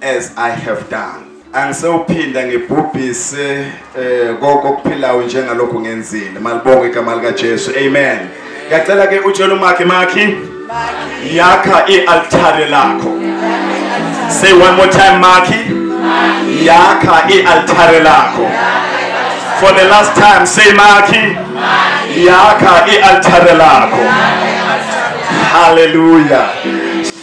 as i have done angisewuphinda ngibhubhise eh konke okuphilayo njengalokho ngenzile malibonga igama lika Jesu amen ngiyacela ke utshela umakhi makhi yakha ialtare lakho say one more time makhi yakha ialtare lakho for the last time say makhi yakha ialtare lakho hallelujah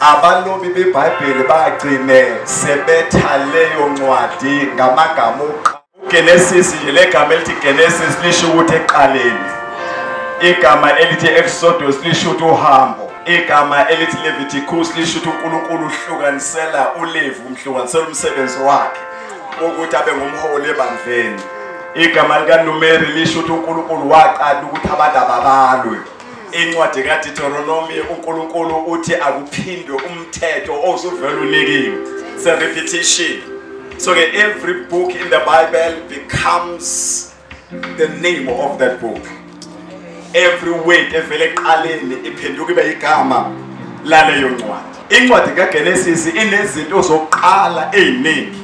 Abalobi beBhayibheli bagcine sebetha leyo ncwadi ngamagama uGenesis nje legama elithi Genesis lisho ukuthi eqaleni. Igama elithi Exodus lisho ukuthi uhambo. Igama elithi Leviticus lisho ukuthi uNkulunkulu uhlukanisela uLevi umhlukanisela umsebenzi wakhe ukuthi abe ngumholi ebandleni. Igama likaNumeri lisho ukuthi uNkulunkulu waqala ukuthi abantu ababalwe. incwadi kaditoronomi unkulunkulu uthi akuphindwe umthetho ozuvele unikiwe se-repetition so-ke every book in the bible becomes the name of that book every word evele eqaleni iphenduka ibe yigama laleyo ncwadi Incwadi kaGenesis inezinto zokuqala eziningi.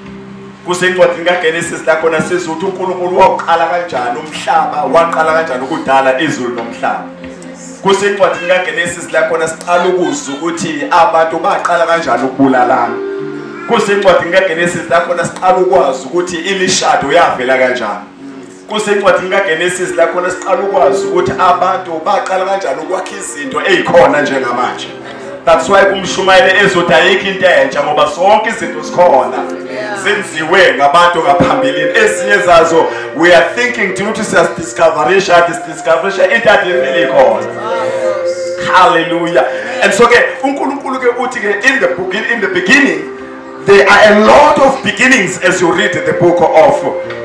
Kusencwadini kaGenesis la khona sizwa ukuthi uNkulunkulu wawuqala kanjani umhlaba, waqala kanjani ukudala izulu nomhlaba. Kusencwadini kaGenesis la khona siqala ukuzwa ukuthi abantu baqala kanjani ukubulalana. Kusencwadini kaGenesis la khona siqala ukwazi ukuthi imishado yavela kanjani. kusencwadini kaGenesis la khona siqala ukwazi ukuthi abantu baqala kanjani ukwakha izinto ezikhona njengamanje that's why kumshumayele ezothi ayikho into entsha ngoba zonke izinto zikhona zenziwe ngabantu ngaphambilini ezinye zazo we are thinking thina ukuthi siyazidiscoverisha discoverisha into adivele ikhona hallelujah and so ke unkulunkulu ke uthi ke in the beginning There are a lot of beginnings as you read the book of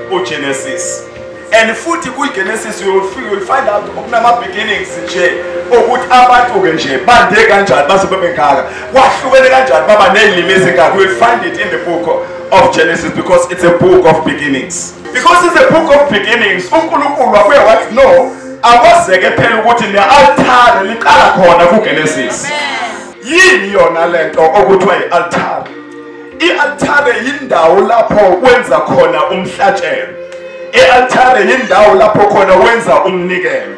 uGenesis. And futhi kuGenesis you will find out okunama beginnings nje ukuthi abantu ke nje bande kanjani base bebengaka. Kwahlukene kanjani baba nezilimi ezingaka. You will find it in the book of Genesis because it's a book of beginnings. Because it's a book of beginnings, uNkulunkulu wabuye wathi no, akwazeke phela ukuthi ne-altare liqala khona kuGenesis. Amen. yini yona lento okuthiwa ialtare ialtare yindawo lapho wenza khona umhlatshelo ialtare yindawo lapho khona wenza umnikelo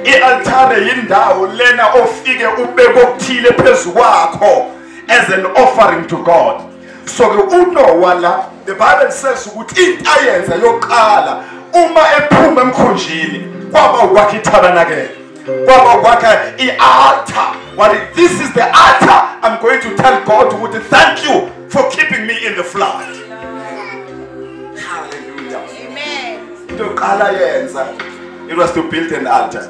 ialtare yindawo lena ofike ubeke okuthile phezu kwakho as an offering to God so ke uNowa la the bible says ukuthi into ayenza yokuqala uma ephuma emkhunjini kwaba ukwakha itabernakele kwaba kwakhe i-altar wathi this is the altar i'm going to tell god ukuthi thank you for keeping me in the flood hallelujah amen into yokuqala yenza it was to build an altar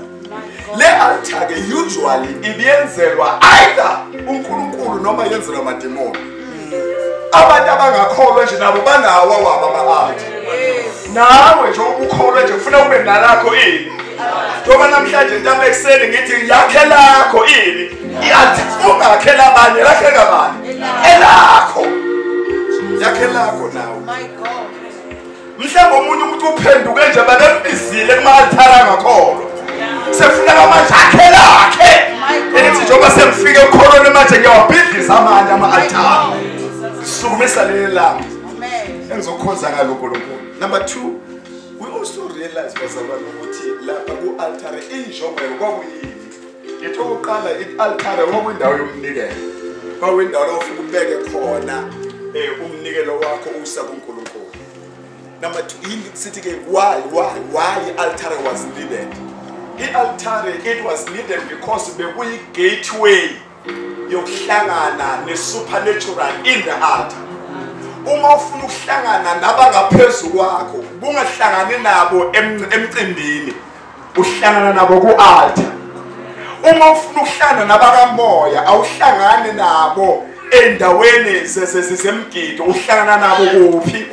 le altar ke usually ibiyenzelwa either uNkulunkulu noma yenzelwa amademoni abantu abangakholwa nje nabo banawo awabo ama-art nawe nje ukukholwa nje ufuna kube nalakho ini njengoba namhlanje ntamba ekuseni ngithi yakhe lakho ini i-art ungakhe labanye lakhe kabani elakho yakhe lakho nawe mhlawumbe omunye umuntu uphenduke nje babembizile kuma-althara angakholwa sekufuneka manje akhe lakhe elithi njengoba sengifike ekukholweni manje ngiyawabhidliza amanye ama-althara ngisukumisa leli lami engizokhonza ngalo nkulunkulu number two we also realize bazalwane ukuthi lapha ku-altare injongo yalo kwakuyini Ngithe ukuqala i-altare kwakwindawo yomnikelo. Kwakwindawo la ufike ubeke khona eh umnikelo wakho usa kuNkulunkulu. Number 2 yini sithi ke why why why i-altare was needed? I-altare it was needed because bekuyi-gateway yokuhlangana ne-supernatural in the altar uma ufuna ukuhlangana nabangaphezu kwakho kungahlangani nabo emcimbini uhlangana nabo ku-altar uma ufuna ukuhlangana nabakamoya awuhlangani nabo ey'ndaweni zemgido uhlangana nabo kuphi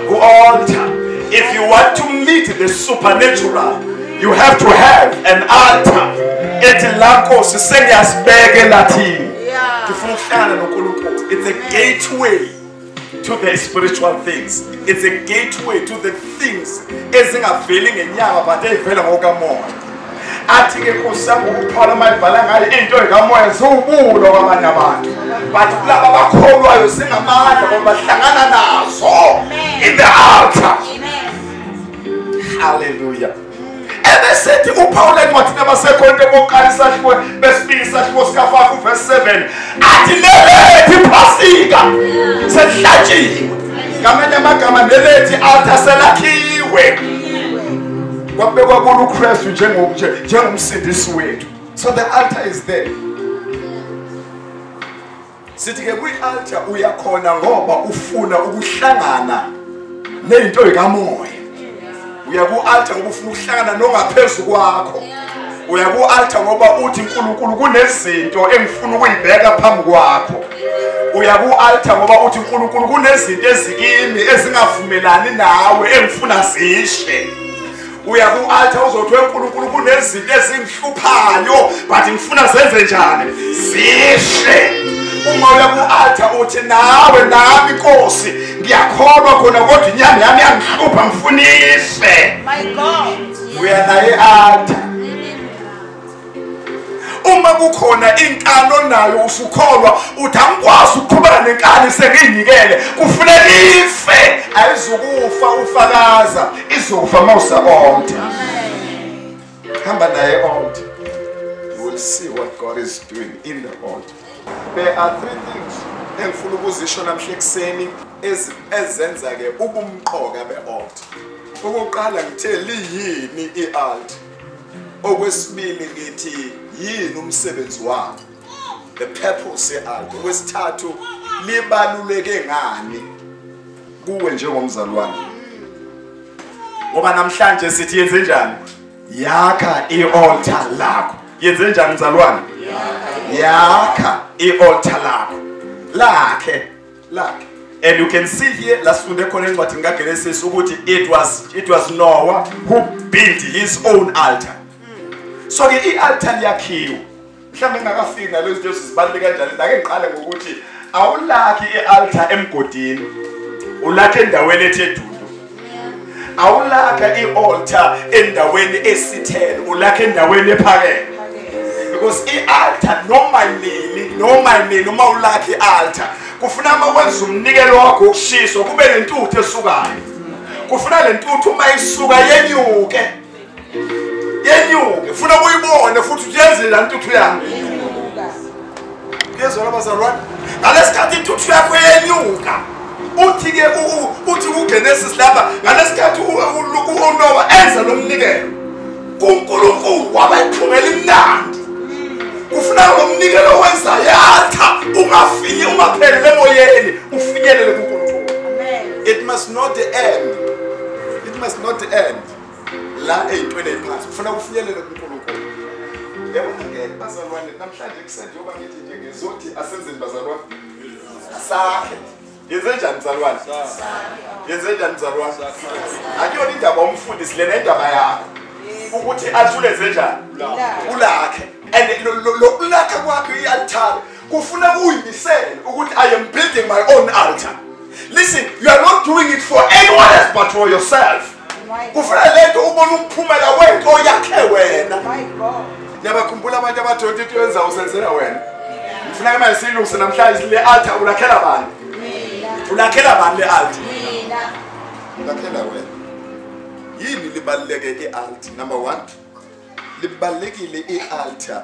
Ku-altar. If you want to meet the supernatural, you have to have an altar. Ethi la Nkosi sengiyasibeke lathini. Ngifuna ukuhlala noNkulunkulu. It's a gateway to the spiritual things. It's a gateway to the things ezingaveli ngenyama but eyivela ngokamoya. athi-ke nkosi yami ukuthola uma ibhala ngale into ekamoya ziwubulo kwabanye abantu but kulaba bakholwayo zingamandla ngoba bahlangana nazo in the altar halleluya ebesethi upawula encwadini abasekhonto bokuqala isahluko besibili isahluko sikafafa uvesi 7 athi nelethi iphasika selihlatshiwe ngamanye amagama nelethi altar selakhiwe kwabekwa kulo ukristu njengomsindisi wethu so the altar is there sithi-ke kwi-altar uyakhona ngoba ufuna ukuhlangana neyinto yikamoya uya ku-altar ngoba ufuna ukuhlangana nongaphezulu kwakho yeah. uya ku-altar ngoba uthi nkulunkulu kunezinto engifuna ukuyibeka phambi kwakho uya ku-altar ngoba uthi nkulunkulu kunezinto ezikimi ezingavumelani nawe engifuna zishe uya ku-altar uzothi wenkulunkulu kunezinto ezingihluphayo but ngifuna zenze njani zishe uma uya ku-altar uthi nawe nami nkosi ngiyakholwa khona kodwa inyama yami yangihlupha ngifunise uya naye alta uma kukhona inkani onayo usukholwa uthi angikwazi ukuqhubana nenkani sengiyinikele kufuneka ife ayizukufa ufakaza izofa uma usakonde hamba naye onde you will see what god is doing in the altar There are three things engifuna ukuzisho namhla ekuseni ezenza ke ubumqoka be-alt. Ukuqala ngithe liyini i-alt. Okwesibili ngithi yini umsebenzi wayo. The purpose ye-alt. Okwesithathu libaluleke ngani kuwe njengomzalwane. Ngoba namhlanje sithi yenze njani? yakha ialtar lakho yenze njani mzalwane yakha ialtar lakho lakhe lakhe and you can see here la sifunde khona encwadini kaGenesis ukuthi it was it was Noah who built his own altar so ke ialtar yakhiwa mhlawumbe engakafiki nalezo zinto zibaluleke kanjani ake ngiqale ngokuthi awulakhi i-altar emgodini ulakhe endaweni ethe dudu awulakha i-altar endaweni esithele ulakhe endaweni ephakeme because i-altar noma nini noma nini uma ulakha i-altar kufuna uma wenza umnikelo wakho wokushiswa kube nentuthu esukayo kufuna le ntuthu uma isuka yenyuke yenyuke funa kuyibone futhi uthi yenzela intuthu yami yezwa labazalwane ngalesikhathi intuthu yakho yenyuka uthi-ke uthi kugenesis lapha ngalesikhathi unowa enza lo mnikelo kunkulunkulu wabayiphungela imnandi kufuna lo mnikelo wenza yatha ungafinye ungaphelele emoyeni ufinyelele kunkulunkulu it must not end it must not end la ey'ntweni ey'phansi kufuna kufinyelele kunkulunkulu yabona-ke bazalwane namhlanje kusende yoba ngithi nje ngizothi asenzeni bazalwane sakhe yenzenjani mzalwane yenzenjani mzalwane akuyona indaba umfundisi lena indaba yakho ukuthi athule zenjani ulakhe and lokulakha kwakhe i-altare kufuna kuyimisele ukuthi i am building my own altar listen you are not doing it for anyone else but for yourself kufuna lento ubona umphumela wento yakhe wena niyabakhumbula abantu abadonta into yenza usenzela wena ngifuna ke manje siyilungise namhlanje le altar ulakhela bani ulakhela bani le altar ulakhela wena yini libaluleke i-alt number one libalulekile i-altar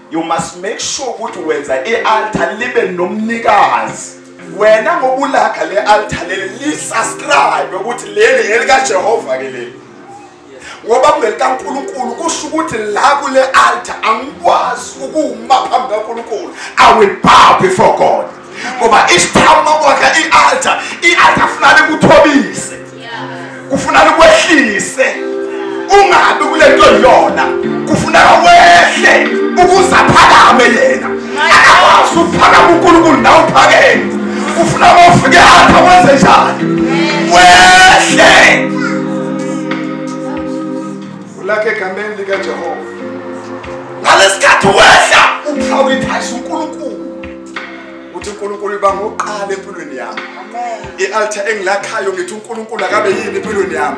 you must make sure ukuthi wenza i-altar libe nomnikazi wena ngokulaga le altar leli lisubscribe ukuthi leli elikajehova ke leli ngoba kungelikankulunkulu kusho ukuthi la kule altar angikwazi ukuwuma phambi kankulunkulu i will bow before god ngoba isithamu nokwakha i-altar i-altar funani kuthobise kufunani kwehlise ungabi kule nto yona kufuneka wehle ukuze aphakame yena akakwazi ukuphakama unkulunkulu nawe uphakeme kufuna bofike altar wenze njani wehle ulakhe egameni likajehova ngalesikhathi wehla uphawulithayisa unkulunkulu ukuthi uNkulunkulu uba ngoqala empilweni yami i-altar engilakhayo ngithi uNkulunkulu akabe yini empilweni yami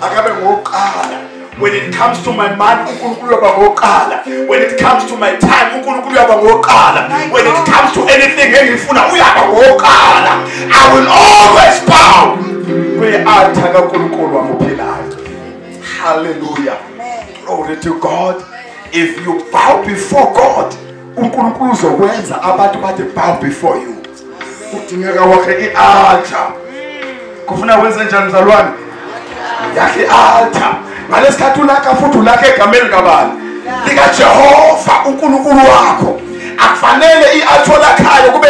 akabe ngoqala when it comes to my mind uNkulunkulu uyoba ngoqala when it comes to my time uNkulunkulu uyoba ngoqala when it comes to anything engifuna uyaba ngoqala i will always bow kwi-altar kaNkulunkulu wami ophilayo hallelujah glory to god if you bow before god uNkulunkulu uzokwenza abantu bathi bow before you kudingeka wakhe i-altar kufuna wenze njani mzalwane yakhe i-altar ngalesikhathi ulakha futhi ulakha egameni likabani likajehova unkulunkulu wakho akufanele i-altar lakhayo kube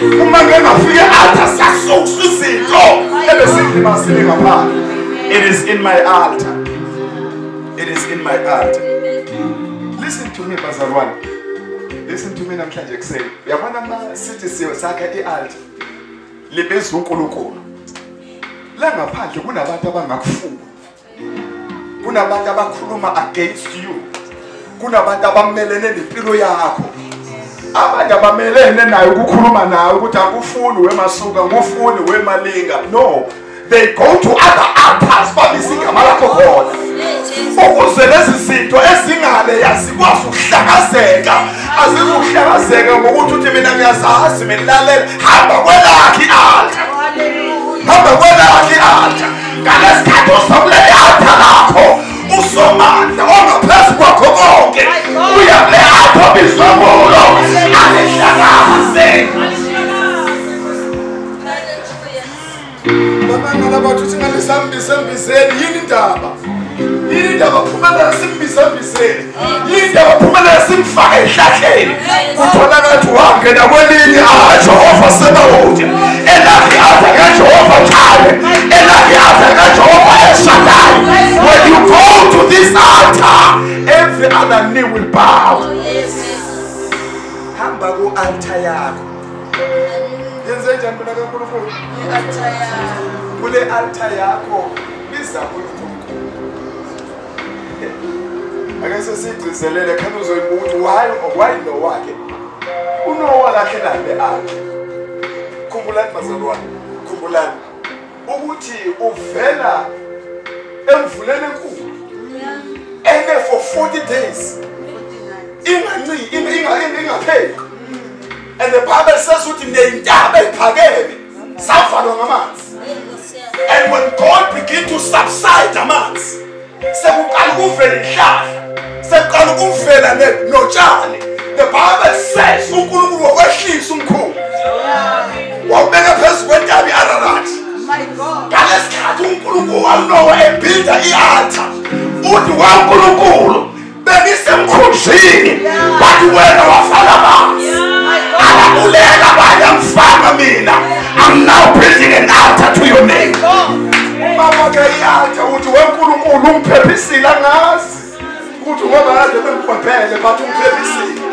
uma ngengafike athi asasukusa izinto ebesingilimazile ngaphandle it is in my altar it is in my altar listen to me bazalwane listen to me namhlanje ekuseni uyabona ma sithi siyo sakha i-altar libizwa unkulunkulu la ngaphandle kunabantu abangakufuni kunabantu abakhuluma against you kunabantu abamelene nempilo yakho abanye abamelene nayo ukukhuluma nayo ukuthi akufuni wemasuka ngufuni wemalinga no they go to other altars babise igama lakho khona ukuze lezi zinto ezingale yazikwazi ukuhlakazeka azizukuhlakazeka ngokuthi uthi mina ngiyazazi mina lalela hamba kwelakhi altar hamba kwelakhi altar ngalesikhathi uzokuleyatha lakho usomandla ongaphezu kwakho konke uyakuleyatha bizomulo alihlakaze bamangala bathu singanisambisembiseni yini indaba yini indaba phumela simbisembiseni linde baphumelela simfake ehlahleni kutholakala ukuthi wangena kwelinye ajehova sebawude elakhe aza kajehova njalo elakhe aza kajehova eshadayo when you go to this altar every other knee will bow hamba ku-altar yakho yenze njani mina kankulunkulu kule altar yakho biza unkulunkulu ake sesigcizelele khani uzoyibuka ukuthi why why no wakhe unowa kahle nabe akhe khumbulani bazalwane khumbulani ukuthi uvela emvuleni enkulu ene for 40 days inganciki ingapheli and the bible says ukuthi neyintaba ephakeme savalwa ngamanzi and when god begin to subside amanzi sekuqala ukuvela inhlahla sekuqala ukuvela notshani the bible says unkulunkulu wakwehlisa umkhulu wawubeka phezu kwentabi i-ararati ngalesikhathi unkulunkulu walowa ebhilda i-alta uthi wankulunkulu bengisemkhunjini but wena wafaka amanzi alabulela abanye angifanga mina i'm now building an altar to your name mama ke i-altar ukuthi wenkulunkulu ungiphephisile angazi ukuthi ngoba kade bengibhebhele but ungiphephisile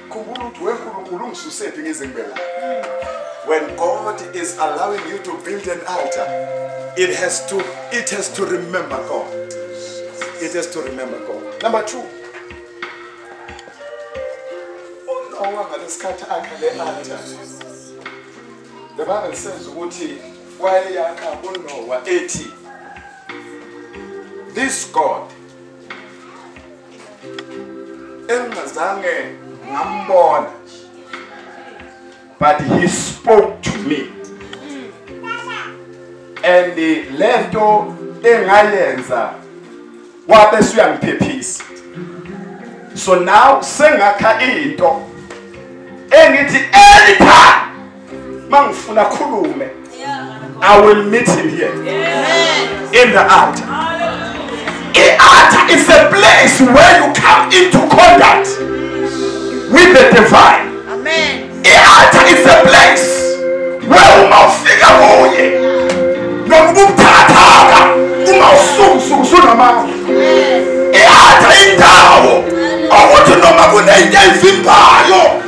Khumbula ukuthi we Nkulunkulu ungisusephi ngizimbela. When God is allowing you to build an altar, it has to it has to remember God. It has to remember God. Number 2. Unowa ngalesikhathi akha le altar. The Bible says ukuthi wayeyakha uNowa ethi this God engazange ngambona but he spoke to me and lento engayenza wabe suyangiphephisa so now sengakha into engithi anytime mangifuna khulume I will meet him here in the altar. The altar is a place where you come into contact with the divine. Amen. The altar is a place where uma ufika kuye noma ubuthathaka uma usukusuku sunamandla. The altar indawo okuthi noma kunento evimbayo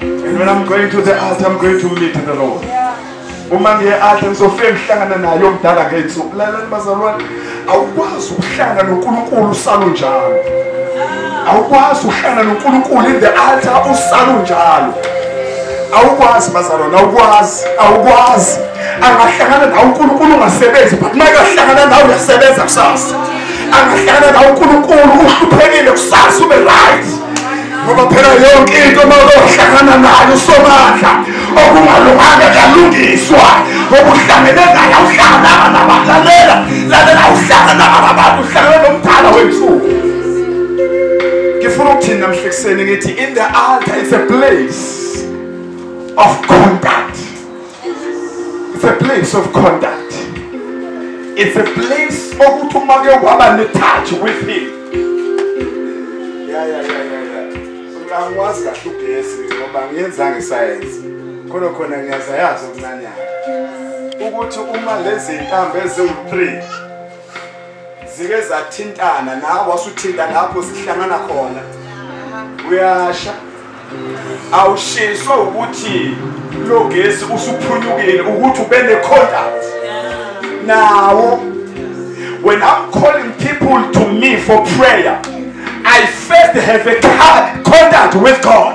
And when I'm going to the altar, I'm going to meet the Lord. Uma ngiye altar ngizofike ngihlangana naye omdala ngey'nsuku. Lalani bazalwane, awukwazi ukuhlangana noNkulunkulu usalo njalo. Awukwazi ukuhlangana noNkulunkulu in the altar usalo njalo. Awukwazi bazalwane, awukwazi, awukwazi. Angahlangana nawe uNkulunkulu ungasebenzi, but uma ekahlangana nawe uyasebenza kusasa. Angahlangana nawe uNkulunkulu uhluphekile kusasa ube right. ngoba phela yonke into uma uzohlangana nayo usomandla okungalunganga kuyalungiswa ngoba uhlangene naye awuhlangananga nabantu lalela lalela awuhlangananga nabantu uhlangene nomdala wethuku ngifuna ukuthini namhlekuseni ngithi in the altar it's a place of contact It's a place of conduct. It's a place okuthi uma ke waba ne touch with him. Yeah yeah yeah yeah yeah. Angikwazi kahle ugesi ngoba ngiyenza ngesayensi. Khona khona ngiyazayazi okuncanyana. Ukuthi uma lezi ntambo eziwu-3 zike zathintana nawe wasuthinta lapho zihlangana khona uyasha awushiswa ukuthi lo gesi usuphunyukile ukuthi ube ne-contact nawo when i'm calling people to me for prayer i first have a contact with god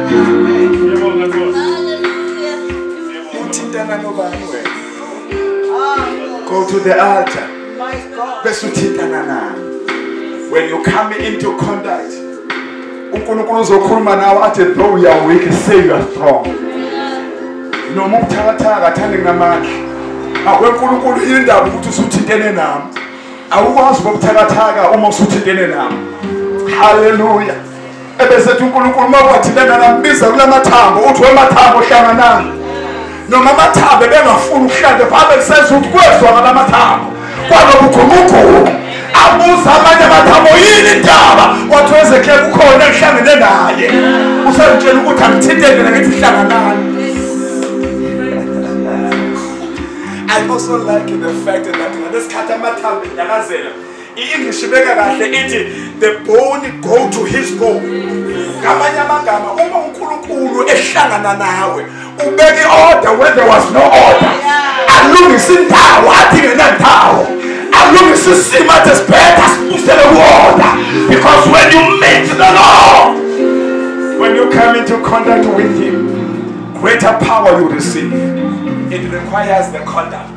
uthintana nobani wena go to the altar bese uthintana naye when you come into contact unkulunkulu uzokhuluma nawe athi though you are weak say you are strong noma ubuthakathaka athande ngamandla akwenkulunkulu indaba ukuthi usuthintene nami awukwazi bokuthakathaka uma usuthintene nami haleluya ebesethi uNkulunkulu uma kwathintana nambiza kulamathambo uthi wemathambo hlanganani noma amathambo ebengafuni ukuhlale phambe kuseza ukuthi kwezwa ngalamathambo kwanokugumugumu abuza amanye amathambo yini indaba wathi wezekle kukhona engihlangene naye usazitshela ukuthi angithinteke nakithi hlanganani I also like the fact that ngesikhathi amathambo enyakazela I-English ibeka kahle ithi the bone go to his bone. Ngamanye amagama uma uNkulunkulu ehlangana nawe ubeke order when there was no order. Alungisa indawo athi ngenandawo. Alungisa isimo athi sibhetha sibusele ku-order because when you meet the Lord when you come into contact with him greater power you receive it requires the conduct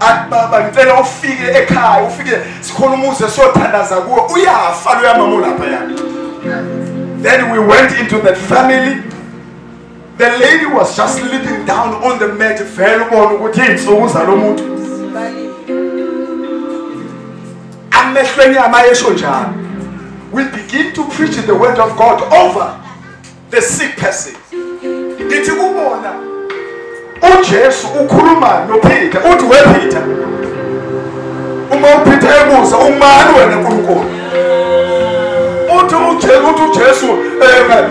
athi baba ngicela ufike ekhaya ufike sikhona umuzi esiyothandaza kuwo uyafa loya mama olapha yani then we went into that family the lady was just sleeping down on the mat vele ubona ukuthi iy'nsuku zalo muntu amehlo enyama yesho njalo we begin to preach the word of god over the sick persons ngithi kubona uJesu ukhuluma noPeter uthi wePeter uma uPeter ebuza umani wena uNkulunkulu uthi uJesu uthi uJesu eh,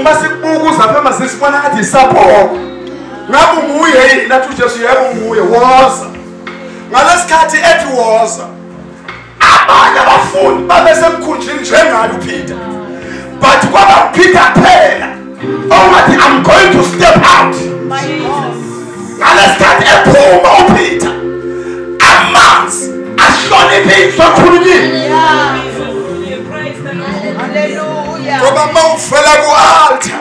uma sikubuka uzapha masisi bona athi sapho ngabe nguye yini nathi uJesu yebo nguye woza ngalesikhathi ethi woza abanye abafundi babesemkhunjini njengayo upeter but kwaba upeter phela ongathi i'm going to step out ngalesikhathi ephuma upeter amanzi ahloniphe izwi akhulunyiwe ngoba uma ufela ku-altar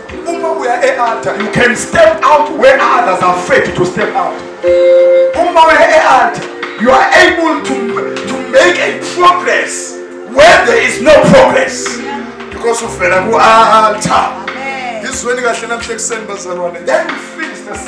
uma uya e-altar you can step out where others are afraid to step out uma uya e-altar you are able to, to make a progress where there is no progress because uvela ku-altar izweni kahle namhla ekuseni bazalwane then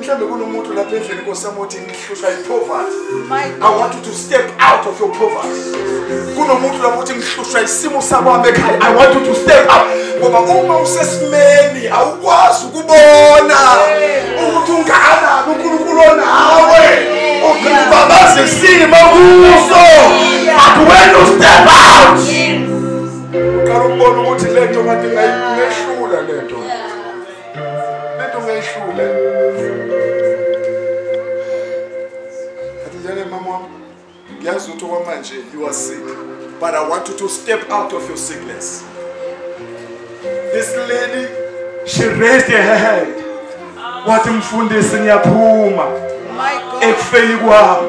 mhlawumbe kunomuntu lapha endlini nkosami othi ngihlushwa yipoverty i want you to step out of your poverty kunomuntu lapho othi ngihlushwa isimo sakwami ekhaya i want you to step out ngoba uma usesimeni awukwazi ukubona ukuthi ungakanani unkulunkulu onawe ufuna ubabaza isimo kuso but when you step out uqala ukubona ukuthi le nto kade ngayihlula le nto lento ngeyihlule atijane mama wami ngiyazi ukuthi okwamanje you are sick but i want you to step out of your sickness this lady she raised her hand wathi mfundisi ngiyaphuma ekufeni kwami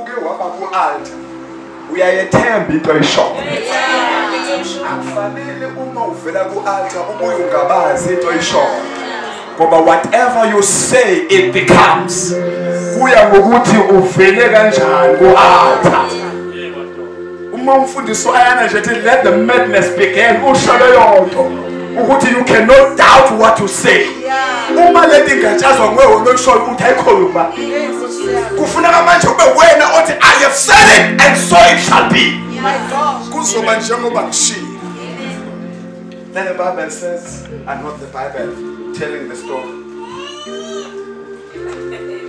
uke waba ku-alta uyayethemba into ayishoyo akufanele uma uvela ku-alta ubuye ungabazi into ayishoyo ngoba whatever you say it becomes kuya ngokuthi uvele kanjani ku-alta uma umfundisi wayana nje ethi let the madness begin usho leyo nto ukuthi you cannot doubt what you say uma le ndingatshazwa nguwe wona okushoyo ukuthi ayikhona ukuba kufuneka manje ube wena othi i have said it and so it shall be kuzoba njengoba ngishilo Then the Bible says, and not the Bible telling the story.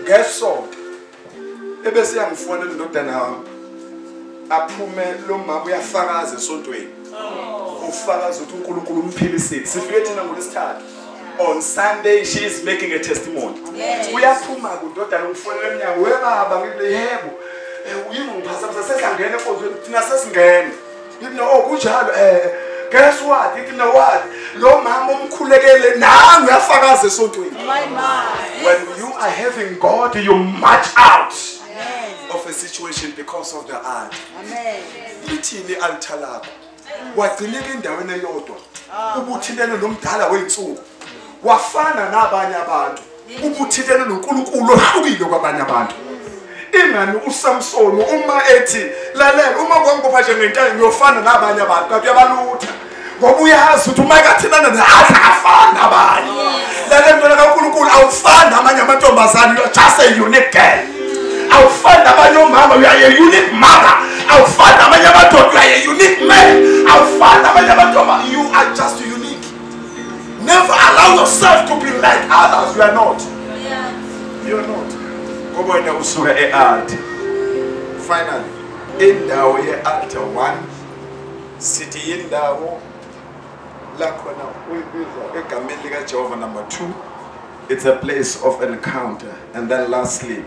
Guess what? ebese yangifonela indodana wami aphume lo mama uyafakaza esontweni ufakaza ukuthi uNkulunkulu umphilisile sifike thina ngolesithathu on Sunday she is making a testimony uyaphuma kudodana ufonela emnyango webaba ngile yebo eh, uyingiphasa sesangena enkonzweni thina sesingena ngithi no oh, kunjalo eh guess what ngithi no what lo mama umkhulekele nami uyafakaza esontweni my my when you are having god you march out of a situation because of the art amen lithini altar lakho wagcineka endaweni eyodwa ah. ubuthilelo nomdala weyinsuku wafana nabanye abantu ubuthilelo noNkulunkulu ohlukile kwabanye abantu ingani uSamson uma ethi lalela uma kwangibopha nje ngentana ngiyofana nabanye abantu kanti uyabalutha ngoba uyazi ukuthi uma ekathinana nathi afani nabanye lalela mntwana kaNkulunkulu awufani namanye amantombazane you're just a unique girl awufani nabanye omama you are a unique mother awufani namanye amadoda you are a unique man awufani namanye amantombazane you are just unique Never allow yourself to be like others. You are not. You are not. Ngoba wena usuka e-art. Finally, indawo ye-art one sithi yindawo lakhona uyibiza egameni likaJehova number two it's a place of encounter and then lastly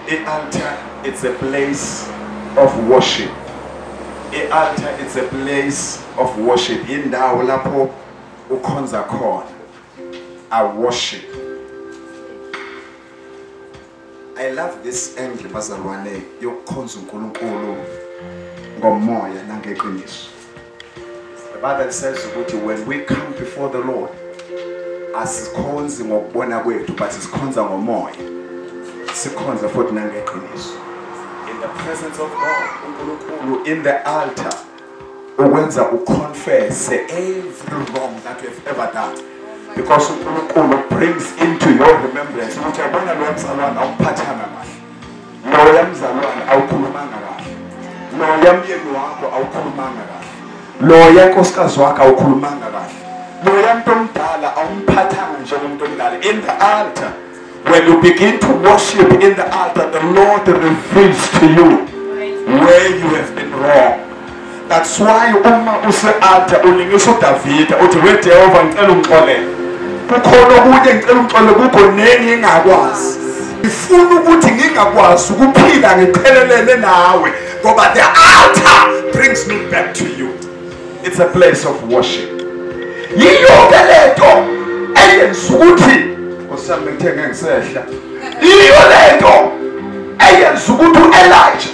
I-altar it's a place of worship. I-altar it's a place of worship. Indawo lapho ukhonza khona. I worship. I love this angle bazalwane yokukhonza uNkulunkulu ngomoya nangeqiniso. The Bible says ukuthi when we come before the Lord asikhonzi ngokubona kwethu but sikhonza ngomoya sikhonza futhi nangeqiniso in the presence of God uNkulunkulu in the altar ukwenza uconfess every wrong that you have ever done because uNkulunkulu brings into your remembrance ukuthi yabona lo msalwana awuphathanga kahle loya mzalwane awukhulumanga kahle loya myeni wakho awukhulumanga kahle loya nkosikazi wakho awukhulumanga kahle loya mntu omdala awumphathanga njengomntu omdala in the altar when you begin to worship in the altar the lord reveals to you where you have been wrong That's why uma usealtar ulingisa uDavida uthi we Jehova ngicela ungixolele. Kukhona okunye ngicela ungixolele kukho neni engakwazi. Ngifuna ukuthi ngingakwazi ukuphila ngiphelelene nawe ngoba the altar brings me back to you. It's a place of worship. Yiyo ke lento eyenza ukuthi osami ngithenge ngisehla. Yiyo lento eyenza ukuthi uElijah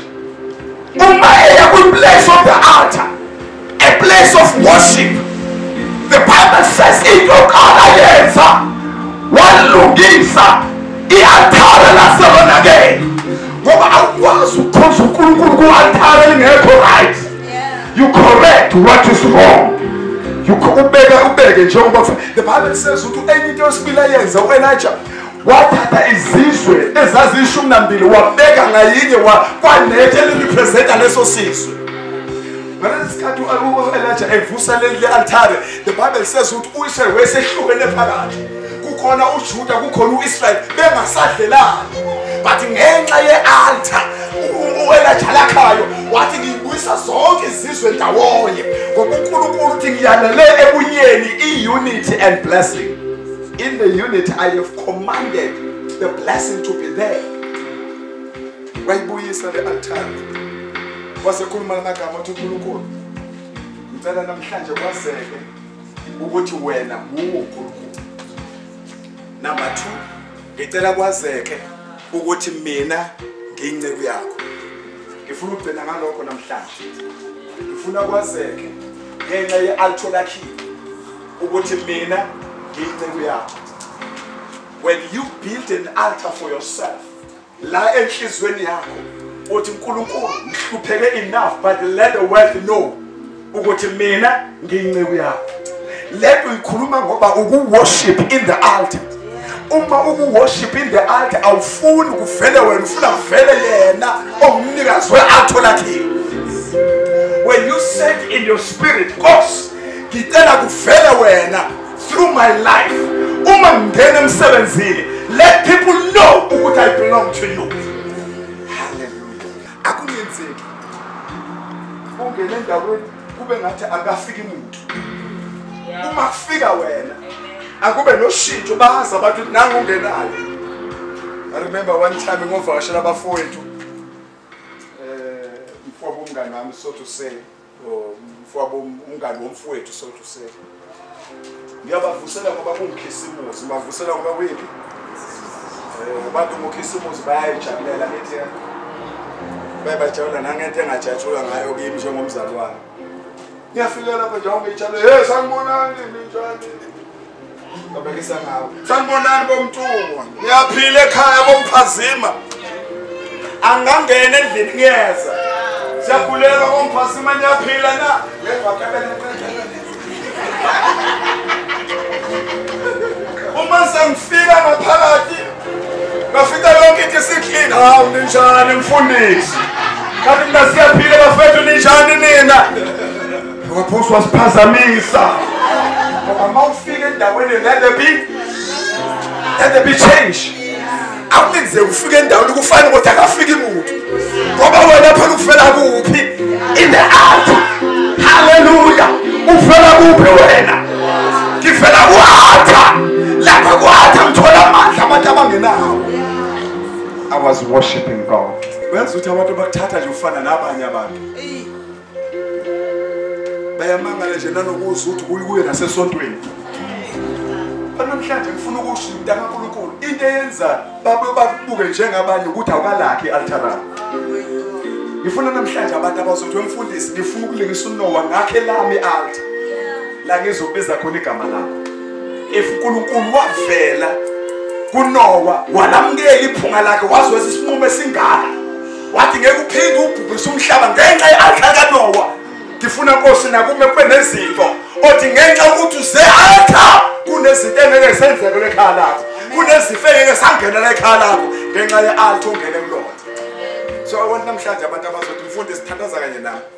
Kumele kwi-place of the altar, a place of worship. The Bible says into yokuqala yenza walungisa i-altare laselonakele ngoba awukwazi ukukhonza unkulunkulu ku-altare elingekho right you correct what is wrong ubeke ubeke njengoba the bible says ukuthi enye into yesibili ayenza u-elija wathatha izizwe ezaziyishumi nambili wabeka ngayinye kwanethe elirepresenta leso sizwe ngalesi sikhathi u-elija evusa leli le-altare the bible says ukuthi uyise wesehlukene phakathi kukhona ujuda kukhona u-israyeli bengasadlelani but ngenxa ye-altar u-elija lakhayo wathi ngiyibuyisa zonke izizwe ndawonye ngoba unkulunkulu uthi ngiyanele ebunyeni i-unity and blessing In the unit I have commanded the blessing to be there. Wayibuyisa le altar. Wasekhuluma lamagama othi uNkulunkulu. Ngicela namhlanje kwazeke ukuthi wena nguwo uNkulunkulu. Number 2 ngicela kwazeke ukuthi mina ngiyinceku yakho. Ngifuna ukugcina ngalokho namhlanje. Ngifuna kwazeke ngenxa ye-altar lakhiwe. ukuthi mina ngiyinceku yakho when you build an altar for yourself la enhliziyweni yakho uthi uNkulunkulu ngihlupheke enough but let the world know ukuthi mina ngiyinceku yakho lento uyikhuluma ngoba ukuworship in the altar uma ukuworship in the altar awufuni kuvele wena ufuna kuvele yena ongumnikazi we-altar lakhiwe when you said in your spirit nkosi ngicela kuvele wena through my life uma ngingena emsebenzini let people know ukuthi i belong to you hallelujah akungenzeki ungena endaweni kube ngathi akafiki muntu uma kufika wena akube noshintsho bazi abantu ukuthi nangu ungenayo i remember one time ngovakashela abafowethu um eh, mfobo umngane wami so to say mfowabo umngani womfowethu so to say ngiyabavusela ngoba kungikhisimuzi ngibavusela ngoba kuyiphi eh, abantu ngokhisimuzi bayayijabulela leti bayibajabula nangento engajatshulwa ngayo kimi njengomzalwane ngiyafika lapha njengoba ngiyitshale hey sanibonani ninjani babekisa ngawe sanibonani bomntungwa ngiyaphila ekhaya bomphazima angangena endlini ngiyeza siyakhuleka bomphazima niyaphila na uma sengifika ngaphakathi ngafika yonke into isiklin hawu ninjani mfundisi kanti mina siyaphila bafethu ninjani nina Waphose wasiphazamisa. Ngoba mawufika endaweni let there be let there be change. Akulinze ufike endaweni kufanele ukuthi akafiki muntu. Ngoba wena phela ufela kuphi? In the earth. Hallelujah. Ufela kuphi wena? Ngifela kwatha. Lapha kwatha ngithola amandla abantu abangenawo. I was worshiping God. Uyazi ukuthi abantu bakuthatha nje ufana nabanye abantu. bayamangala nje nanokuzwa ukuthi kuyi kuye nasesontweni banamhlanje ngifuna ukusho mntana kaNkulunkulu into eyenza babe bakubuke njengabanye ukuthi awukalakhi i-altara ngifuna namhlanje abantu abazothi wemfundisi ngifuna ukulingisa unowa ngakhe lami i-alta la ngizobiza khona igama lakho if uNkulunkulu wavela kunowa walamukela iphunga lakhe wazweza isinqumo esingaka wathi ngeke uphinde ubhubhise umhlaba ngenxa ye-arka kanowa ngifuna nkosi nakume kube nezinto othi ngenxa yokuthi uze-arka kunezinto engeke zenzeke lekhaya lakho kunezifo engeke sangenela ekhaya lakho ngenxa ye-arka ongene kulona so abantu namhlanje abantu abazothi mfundi sithandaza kanye nami